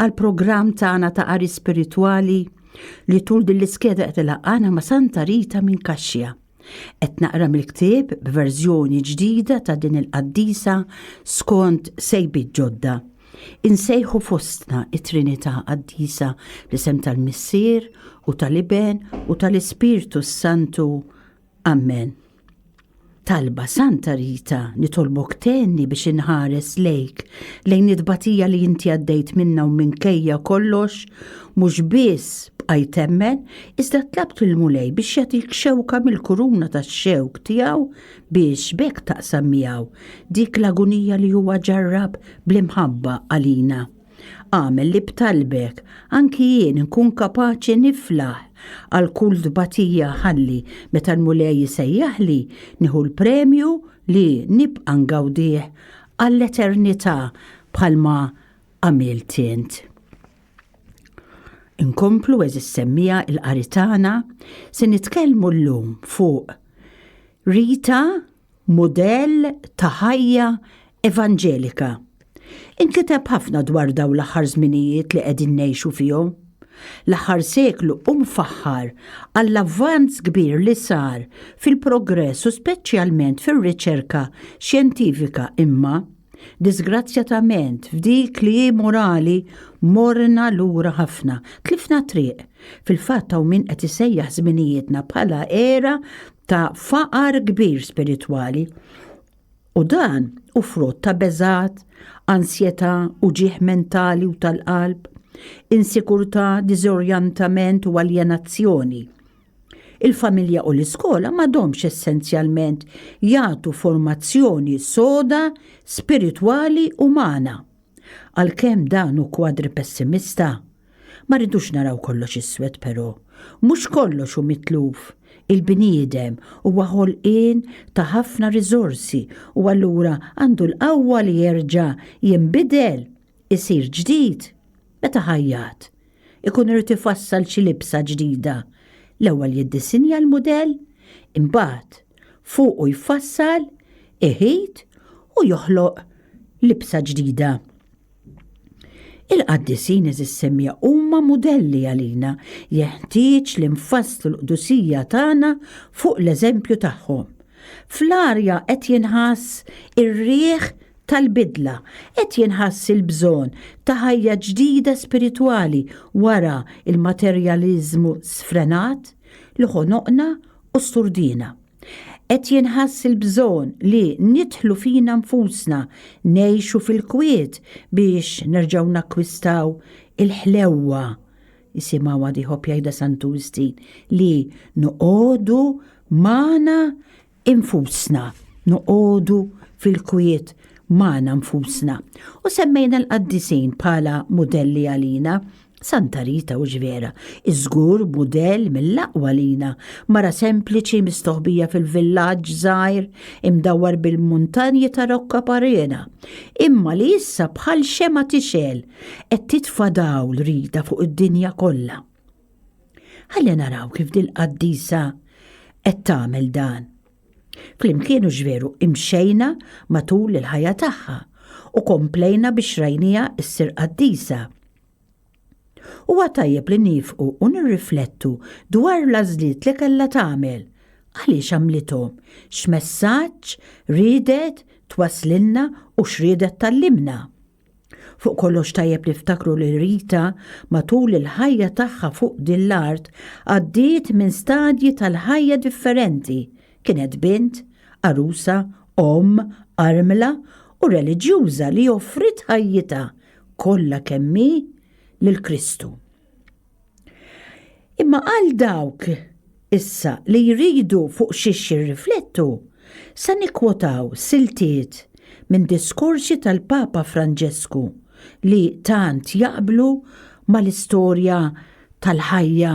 għal programm tagħna ta' qari spiritwali li tul din l-iskeda qed ilaqgħana ma' Santa Rita minn Kaxxja. Qed naqra mill-ktieb b'verżjoni ġdida ta' din il-qaddisa skont sejbi ġodda. Insejħu fostna it-Trinità Qaddisa li sem tal-Missier u tal-Iben u tal-Ispirtu s-Santu. Amen. Talba Santa Rita nitolbok tenni biex inħares lejk lejn it-tbatija li inti għaddejt minna u minkejja kollox mhux biss bqajt temmen iżda tlabt il-mulej biex jagħtik xewka mill-kuruna tax-xewk tiegħu biex bekk taqsam miegħu dik l-agunija li huwa ġarrab bl-imħabba għalina. Agħmel li b'talbek anki jien nkun kapaċi niflaħ għal kull tbatija ħalli meta l-Mulej isejjaħli nieħu l-premju li nibqa' ngawdih għall-eternità bħalma għamilt int. Inkomplu eżis semmija il-qari tagħna se nitkellmu llum fuq Rita Mudell ta' ħajja evanġelika. Inkiteb ħafna dwar dawn l-aħħar żminijiet li qegħdin ngħixu fihom. L-aħħar seklu hu mfaħħar għall-avvanz kbir li sar fil-progress u speċjalment fir-riċerka xjentifika imma, diżgrazzjatament, f'dik li hi morali morna lura ħafna, tlifna t-triq. Fil-fatt hawn min qed isejjaħ żminijietna bħala era ta' faqar kbir spiritwali u dan u frott ta' beżat, ansjetà u ġieħ mentali u tal-qalb, insikurtà, diżorjantament u aljenazzjoni. Il-familja u l-iskola m'għadhomx essenzjalment jagħtu formazzjoni soda spiritwali umana. Għalkemm dan hu kwadri pessimista, ma rridux naraw kollox iswed però. Mhux kollox hu mitluf. Il-bniedem huwa ħolqien ta' ħafna riżorsi u allura għandu l-qawwa li jerġa' jinbidel, isir ġdid, meta ħajjat, ikun irid ifassal xi libsa ġdida, l-ewwel jiddisinja l-mudell, imbagħad fuqu jfassal, iħit u joħloq libsa ġdida. Il-qaddisin eżis semmija huma mudelli għalina jeħtieġ li nfasslu l-qdusija tagħna fuq l-eżempju tagħhom. Fl-arja qed jinħass ir-riħ tal-bidla, qed jinħass il-bżonn ta' ħajja ġdida spiritwali wara l-materjaliżmu sfrenat li ħonoqna u sturdina. Qed jinħass il-bżonn li nidħlu fina nfusna, ngħixu fil-kwiet biex nerġgħu nakkwistaw il-ħlewwa, isimgħu għad ieħor jgħidha Santu Wistin, li noqogħdu magħna infusna, noqogħdu fil-kwiet magħna nfusna u semmejna l-qaddisin bħala mudelli għalina, Santa Rita u X'Vera, iż-żgur mudell mill-aqwa għalina, mara sempliċi mistoħbija fil-villaġġ żgħir imdawwar bil-muntanji ta' Rocca Parena, imma li issa bħal xemgħa tixgħel qed titfa' dawl rida fuq id-dinja kollha. Ħalli naraw kif dil-qaddisa qed tagħmel dan. Flimkien hux veru imxejna matul il-ħajja tagħha u komplejna biex rajnija issir qaddisa. Huwa tajjeb li nifqu u nirriflettu dwar l-għażliet li kellha tagħmel, għaliex għamlithom, x'messaġġ riedet twasslilna u x'riedet tgħallimna. Fuq kollox tajjeb niftakru li Rita matul il-ħajja tagħha fuq din l-art għaddiet minn stadji tal-ħajja differenti. Kienet bint, għarusa, omm, armla u reliġjuża li offriet ħajjitha kollha kemm hi lil Kristu. Imma għal dawk issa li jridu fuq xiex jirriflettu, sa nikkwotaw siltiet minn diskorsi tal-Papa Franġesku li tant jaqblu mal-istorja tal-ħajja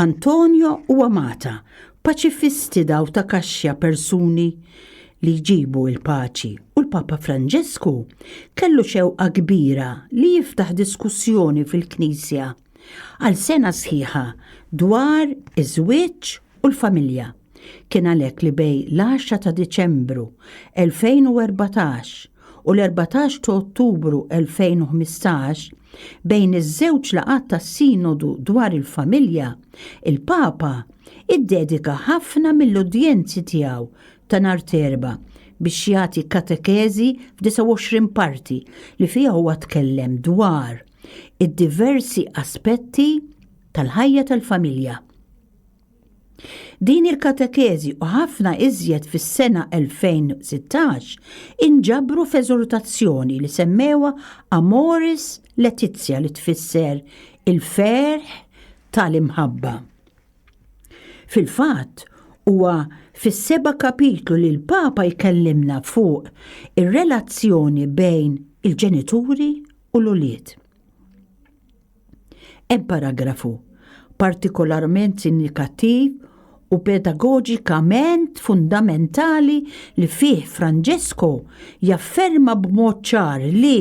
Antonio u Amata, paċifisti daw ta' kaxxa persuni li jġibu il-paċi u l-Papa Franġesku kellu xewqa kbira li jiftaħ diskussjoni fil-Knisja għal sena sħiħa dwar iż-żwieġ u l-familja. Kien għalhekk li bej l-10 ta' Diċembru 2014 u l-14 ta' Ottubru 2015, bejn iż-żewġ laqgħat tas-Sinodu dwar il-Familja, il-Papa iddedika ħafna mill-udjenzi tiegħu ta' nhar t'Erbgħa biex jagħti katekeżi f'29 parti li fiha huwa tkellem dwar id-diversi aspetti tal-ħajja tal-familja. Din il-katekeżi u ħafna iżjed fis-sena 2016 inġabru f'eżortazzjoni li semmewha Amoris Laetitia li tfisser il-ferħ tal-imħabba. Fil-fatt, huwa fis-seba' kapitlu li l-Papa jkellimna fuq ir-relazzjoni bejn il-ġenituri u l-ulied. Ebparagrafu partikolarment sindikattiv u pedagoġikament fundamentali li fih Francesco jafferma b'mod ċar li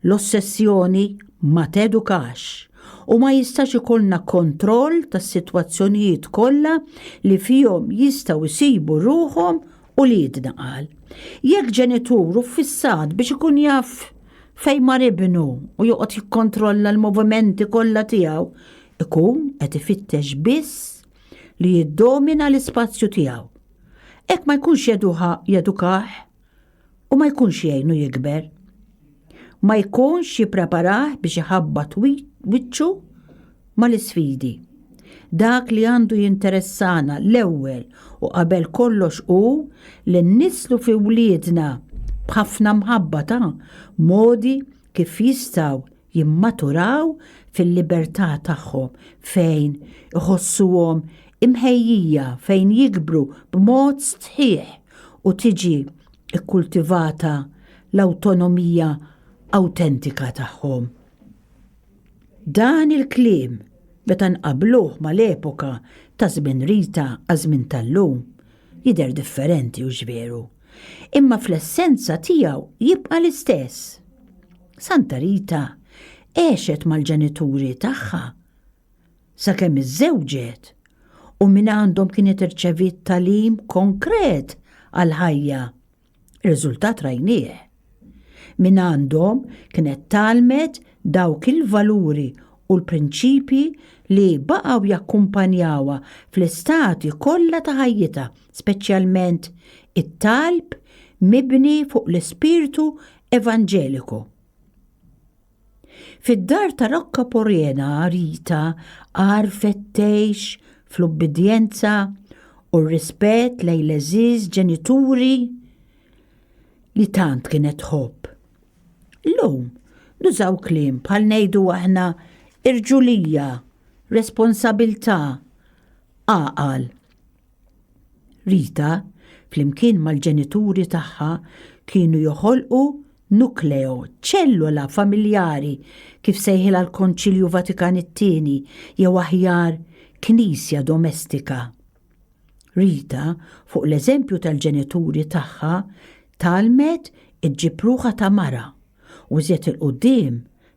L-ossessjoni ma tedukax u ma jistax ikollna kontroll tas-sitwazzjonijiet kollha li fihom jistgħu jsibu ruħhom uliedna qal, jekk ġenitur u fissat biex ikun jaf fejn mar ibnu u joqgħod jikkontrolla l-movimenti kollha tiegħu, ikun qed ifittex biss li jiddomina l-ispazju tiegħu. Hekk ma jkunx jeduha jedukah u ma jkunx jgħinu jikber. ma jkunx jippreparah biex iħabbat wiċċu mal-isfidi. Dak li għandu jinteressana l-ewwel u qabel kollox hu li nnislu fi wliedna b'ħafna mħabba ta' modi kif jistgħu jimmaturaw fil-libertà tagħhom fejn iħossuhom imħejjija fejn jikbru b'mod sħiħ u tiġi ikkultivata l-awtonomija awtentika tagħhom. Dan il-kliem meta nqabbluh mal-epoka ta' żmien Rita għaż-żmien tal-lum jidher differenti hux veru, imma fl-essenza tiegħu jibqa' l-istess. Santa Rita għexet mal-ġenituri tagħha. sakemm iżżewġet u minn għandhom kienet irċeviet talim konkret għall-ħajja. Riżultat rajnieh. Minn għandhom kienet tgħallmet dawk il-valuri u l-prinċipji li baqgħu jakkumpanjawha fl-istadji kollha ta' ħajjitha, speċjalment it-talb mibni fuq l-ispirtu evanġeliku. Fid-dar ta' Rocca Porena Rita għarfet tgħix fl-ubbidjenza u r-rispett lejn l-għeżież ġenituri li tant kienet tħobb. Illum nużaw kliem bħal ngħidu aħna irġulija, responsabilità, għaqal. Rita, flimkien mal-ġenituri tagħha, kienu joħolqu nukleo, ċellola familjari kif sejħilha l-Konċilju Vatikan it-Tieni, jew aħjar knisja domestika. Rita, fuq l-eżempju tal-ġenituri tagħha, tgħallmet iġġib ruħha ta' mara u żied il-quddiem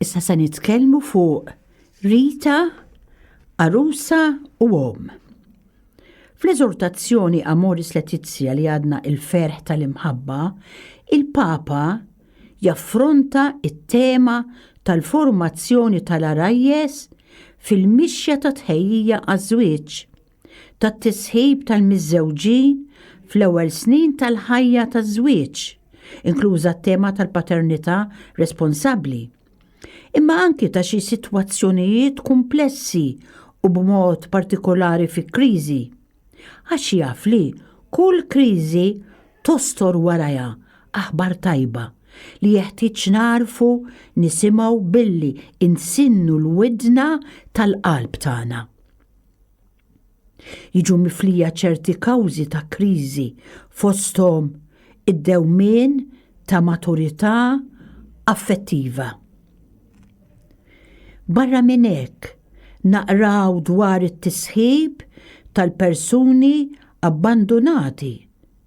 Issa se nitkellmu fuq Rita, Arusa u Om. Fl-eżortazzjoni Amoris Letizia li għadna il-ferħ tal-imħabba, il-Papa jaffronta it-tema tal-formazzjoni tal-arajjes fil-mixja ta' tħejjija għaż-żwieġ. tat-tisħib tal-miżżewġin fl-ewwel snin tal-ħajja taż-żwieġ, inkluża t-tema tal-paternità responsabbli, imma anki ta' xi sitwazzjonijiet kumplessi u b'mod partikolari fi kriżi, għax jaf li kull kriżi tostor warajha aħbar tajba li jeħtieġ nagħrfu nisimgħu billi nsinnu l-widna tal-qalb tagħna. Jiġu miflija ċerti kawżi ta' kriżi fosthom id-dewmien ta' maturità affettiva. Barra minn hekk, naqraw dwar it-tisħib tal-persuni abbandunati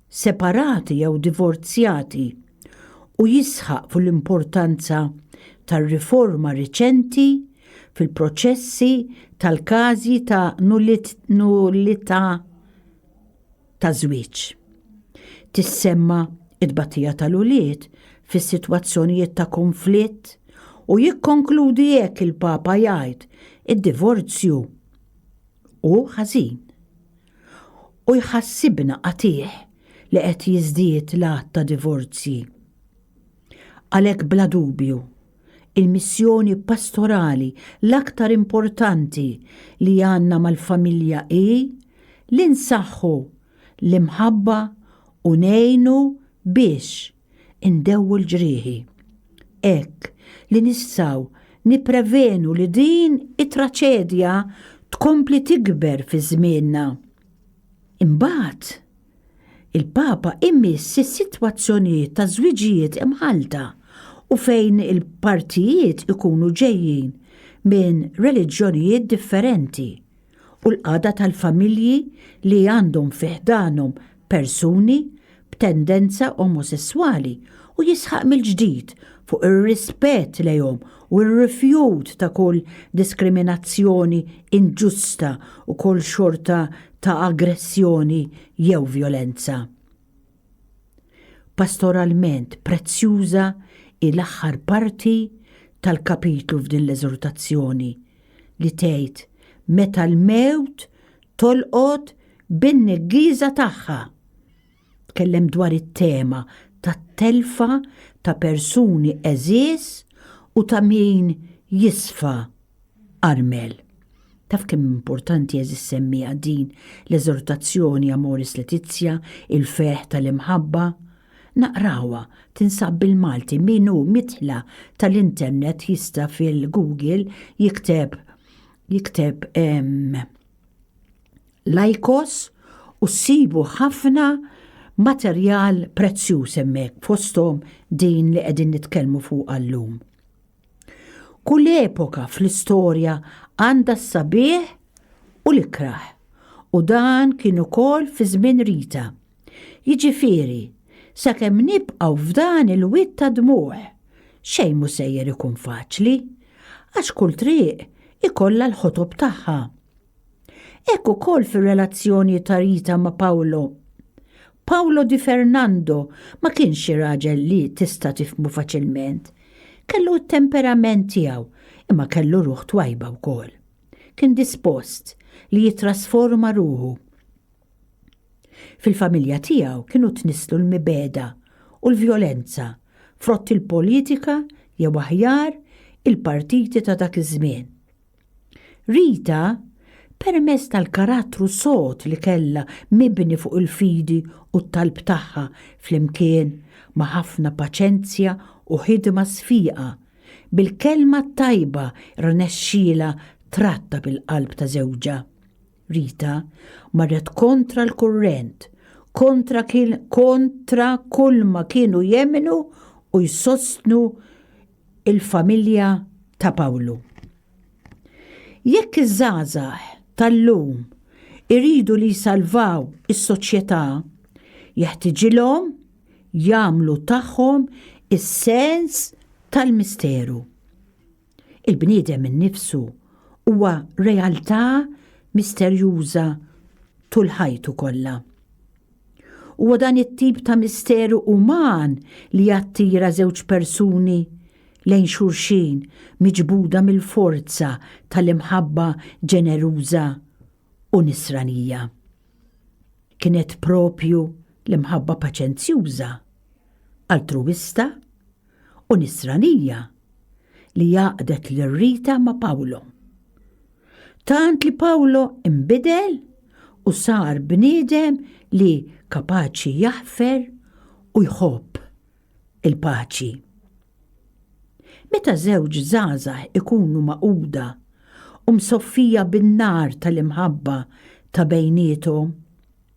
separati jew divorzjati u jisħaq fuq l-importanza tar-riforma riċenti fil-proċessi tal-każi ta' nullità ta' żwieġ. Tissemma t-tbatija tal-ulied fi sitwazzjonijiet ta' kunflitt u jikkonkludi hekk il-Papa jgħid, Id-divorzju hu ħażin. U jħassibna qatigħ li qed jiżdied l-għadd ta' divorzji. Għalhekk bla dubju, il-missjoni pastorali l-aktar importanti li għandna mal-familja hi li nsaħħu l-imħabba u ngħinu biex indewwu l-ġrieħi. Hekk li nistgħu nipprevenu li din it-traċedja tkompli tikber fi żmienna. Imbagħad, il-Papa imiss is-sitwazzjonijiet ta' żwiġijiet imħallta u fejn il-partijiet ikunu ġejjin minn reliġjonijiet differenti. u l-qagħda tal-familji li għandhom fi ħdanhom persuni b'tendenza omosesswali u jisħaq mill-ġdid fuq ir-rispett lejhom u r-rifjut ta' kull diskriminazzjoni inġusta u kull xorta ta' aggressjoni jew vjolenza. Pastoralment prezzjuża hi l-aħħar parti tal-kapitlu f'din l-eżortazzjoni, li tgħid, Meta l-mewt tolqot bin-neggieża tagħha! Tkellem dwar it-tema tat-telfa ta' persuni għeżież u ta' min jisfa. Armel. Taf kemm importanti eżis semmija din l-eżortazzjoni Amoris Letizia, il-ferħ tal-imħabba? Naqrawha, tinsab bil-Malti min hu midħla tal-internet jista' fil-Google jikteb jikteb ehm, lajkos u ssibu ħafna materjal prezzjuż hemmhekk fosthom din li qegħdin nitkellmu fuqha llum. Kull epoka fl-istorja għandha s-sabiħ u l-ikrah. U dan kien ukoll fi żmien Rita. Jiġifieri, sakemm nibqgħu f'dan il-wied ta' dmugħ, xejn mhu sejjer ikun faċli. Għax kull triq ikollha l-ħotob tagħha. Hekk ukoll fir-relazzjoni ta' Rita ma' Paolo. Paolo di Fernando ma kienx xi raġel li tista' tifhmu faċilment. Kellu t-temperament tiegħu, imma kellu ruħ twajba wkoll. Kien dispost li jittrasforma ruħu. Fil-familja tiegħu kienu tnisslu l-mibegħda u l-vjolenza, frott il-politika jew aħjar il-partiti ta' dak iż-żmien. Rita, permezz tal-karattru sod li kellha mibni fuq il-fidi u t-talb tagħha flimkien ma' ħafna paċenzja u ħidma sfiqa, bil-kelma t-tajba rnexxielha trattab il-qalb ta' żewġha. Rita marret kontra l-kurrent, kontra kontra kulma kienu jemmnu u jsostnu il-familja ta' Pawlu. Jekk iż-żgħażagħ tal-lum iridu li jsalvaw is-soċjetà, jeħtiġilhom jagħmlu tagħhom is-sens tal-misteru. Il-bniedem innifsu huwa realtà misterjuża tul ħajtu kollha. Huwa dan it-tip ta' misteru uman li jattira żewġ persuni lejn xulxin miġbuda mill-forza tal-imħabba ġeneruża u nisranija. Kienet propju l-imħabba paċenzjuża, altruwista u Nisranija li għaqdet lil Rita ma' Pawlo. Tant li Pawlo imbidel u sar bniedem li kapaċi jaħfer u jħobb il-paċi. Meta żewġ żgħażagħ ikunu maquda u msoffija bin-nar tal-imħabba ta' bejniethom,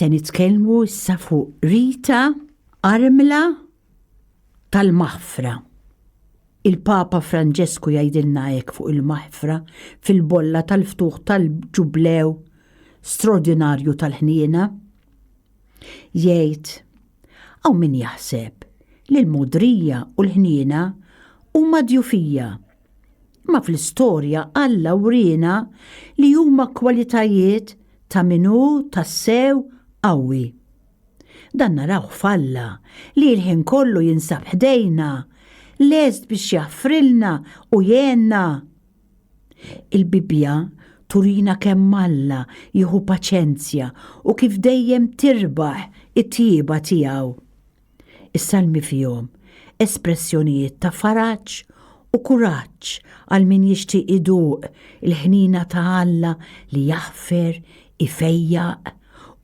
Se nitkellmu issa fuq Rita Armla tal-Maħfra. Il-Papa Franġesku jgħidilna hekk fuq il-Maħfra fil-bolla tal-ftuħ tal-ġublew straordinarju tal-ħniena. Jgħid, Hawn min jaħseb li l-mogħdrija u l-ħniena huma djufija. Ma fl-istorja Alla wriena li huma kwalitajiet ta' min hu tassew qawwi. Dan narawh f'Alla li l-ħin kollu jinsab ħdejna, lest biex jaħfrilna u jgħinna. Il-Bibbja turina kemm Alla jieħu paċenzja u kif dejjem tirbaħ it-tjieba tiegħu. Is-Salmi fihom espressjonijiet ta' faraġ u kuraġġ għal min jixtieq iduq il-ħniena ta' Alla li jaħfer, ifejjaq,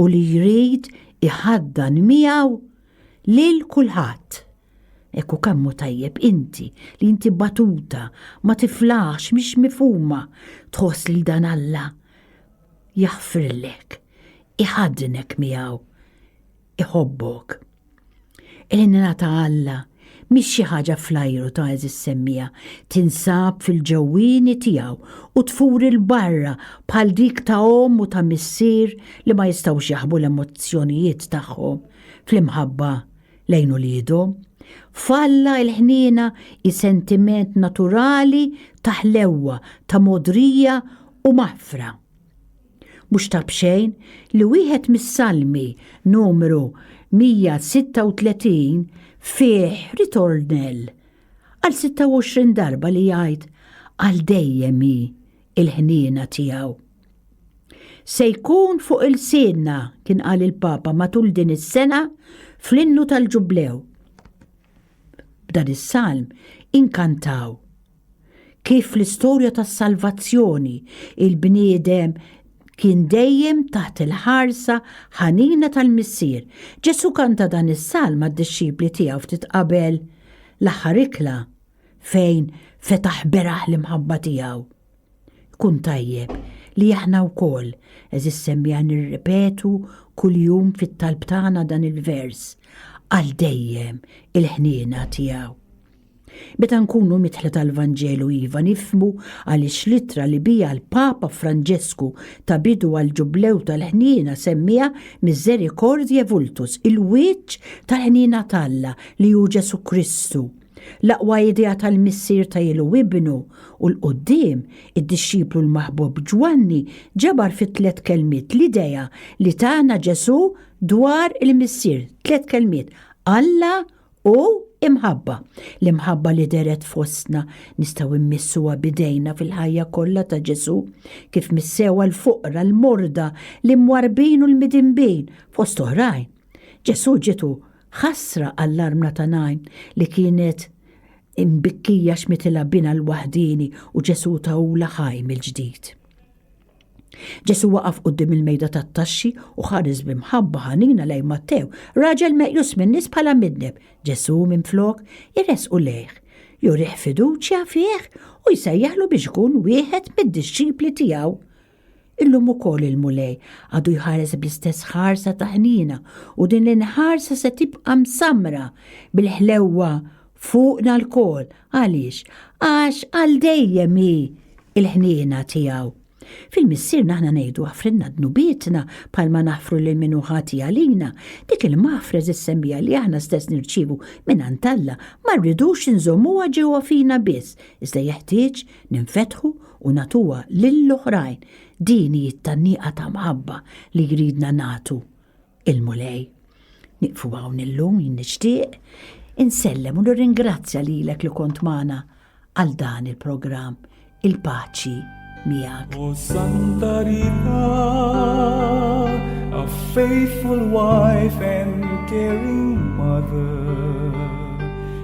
u li jrid iħaddan miegħu lil kulħadd. Ekku kemmu tajjeb inti li inti batuta, ma tiflaħx, mhix mifhuma, tħoss lil dan Alla jaħfirlek, iħaddnek miegħu, iħobbok. Il-ħnina ta' Alla mhix xi ħaġa flajru ta' eżis semmija, tinsab fil-ġewwieni tiegħu u tfur il-barra bħal dik ta' omm u ta' missier li ma jistgħux jaħbu l-emozzjonijiet tagħhom fl-imħabba lejn uliedhom, falla il-ħniena hi sentiment naturali ta' ħlewwa, ta' mogħdrija u maħfra. Mhux ta' b'xejn li wieħed mis-Salmi numru 136 fih ritornell għal 26 darba li jgħid għal dejjem hi il-ħniena tiegħu. Se jkun fuq il-sidna kien qal il-Papa matul din is-sena fl-innu tal-ġublew. B'dan is-salm inkantaw kif l-istorja tas-salvazzjoni il-bniedem kien dejjem taħt il-ħarsa ħanina tal-missier. Ġesu kanta dan is-salm għad-dixxipli tiegħu ftit qabel l-aħħar ikla fejn fetaħ beraħ l-imħabba tiegħu. Kun tajjeb li aħna wkoll eżis semmija nirripetu kuljum fit-talb tagħna dan il-vers għal dejjem il-ħniena tiegħu. Meta nkunu mitħla tal-Vanġelu iva nifmu għaliex litra li bija l-Papa Franġesku ta' bidu għal ġublew tal-ħniena semmija miżerikordje vultus il-wiċċ tal-ħniena talla li hu Ġesu Kristu L-aqwa idea tal-missier ta' ilu ibnu u l-qoddim, id-dixxiplu l-maħbub Ġwanni ġabar fi tliet kelmiet l-idea li tana Ġesù dwar il-Missier, tliet kelmiet, Alla u imħabba. L-imħabba li deret fostna nistgħu mmissuha bidejna fil-ħajja kollha ta' Ġesù, kif missewa l-foqra, l-morda, l-imwarbin u l-midinbin, fost oħrajn. Ġesù ġitu Ħasra għall-armla ta' Nain li kienet imbikkija x'mitilha binha l-waħdieni u Ġesù tahulha ħaj mill-ġdid. Ġesù waqaf quddiem il-mejda tat-taxxi u ħares b'imħabba ħanina lejn Mattew, raġel meqjus min-nies bħala midneb. Ġesù, minflok, iressqu lejh, jurih fiduċja fih u jsejjaħlu biex ikun wieħed mid-dixxipli tiegħu. Illum ukoll il-Mulej għadu jħares bl-istess ħarsa ta' ħnina u din l-inħarsa se tibqa' msammra bil-ħlewwa fuqna lkoll. Għaliex? Għax għal dejjem hi l-ħniena tiegħu. Fil-Missier naħna ngħidu aħfrilna dnubietna bħalma naħfru lil min hu ħati għalina. Dik il-maħfra eżis semmija li aħna stess nirċievu mingħand Alla ma rridux inżommuha ġewwa fina biss, iżda jeħtieġ ninfetħu u natuha lill-oħrajn din hi t-tanniqa ta' mħabba li jridna nagħtu il-Mulej. Nieqfu hawn illum jien nixtieq insellem u nirringrazzja lilek li kont magħna għal dan il-programm il-paċi miegħek. O Santa Rita, a faithful wife and caring mother.